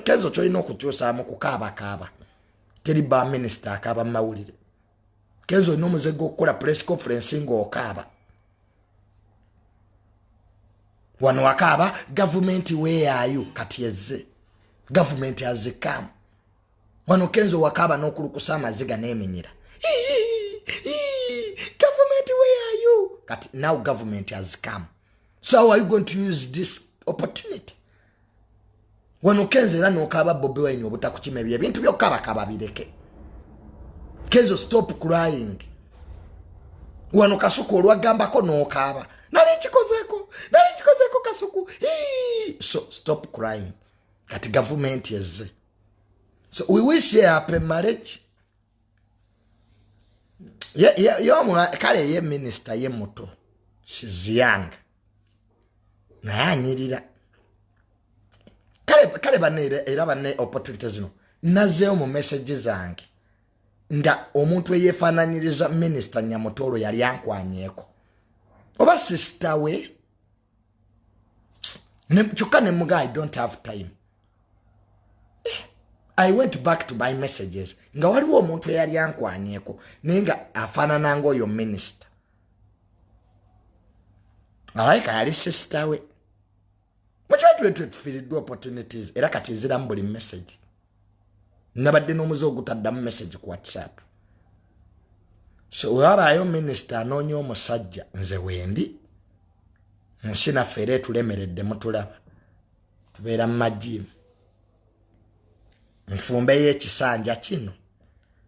kenzo kyolina okukyusaamu kukaabakaaba teri ba minisita akaaba mu mawulire kenzo olina omuze gwokukola press conference ngaokaaba wano wakaaba gavumenti weyayo kati ezze gavumenti azikaamu wano kenzo wakaaba n'okulukusa amaziga n'eminyira gavumenti weyayo kati now gavumenti azikaamu so how are you going to use this opportunity wano kenzo era nokaaba bobi wine obutakukima ebyo ebintu byokabaka babireke kenzo stop crying wano kasuku olwagambako nokaaba nali nkikozeko nali nkikozeko kasuku so stop crying kati gavumenti ezze so we wish ye happy marriage kale ye minisita ye muto sizianga naye anyirira kale kale banne era banne opportunity zino nazeewo mu message zange nga omuntu eyefaananyiriza minisita nyamutoolo yali ankwanyeko oba sisita we kyokka ne muga i don't have time eh, i went back to my messages nga waliwo omuntu eyali ankwanyeko naye nga afaanana ngaoyo minisita alabika yali sisita we mukyatulete tufiiriddwa opportunities era kati eziramu buli message nabadde n'omuze ogutaddamu message ku whatsapp so wewabaayo minisita anoonya omusajja nze wendi nsi naffe era etulemeredde mutulaba tubeera mu majiimu nfumbeyo ekisanja kino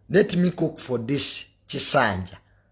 let me cook for this kisanja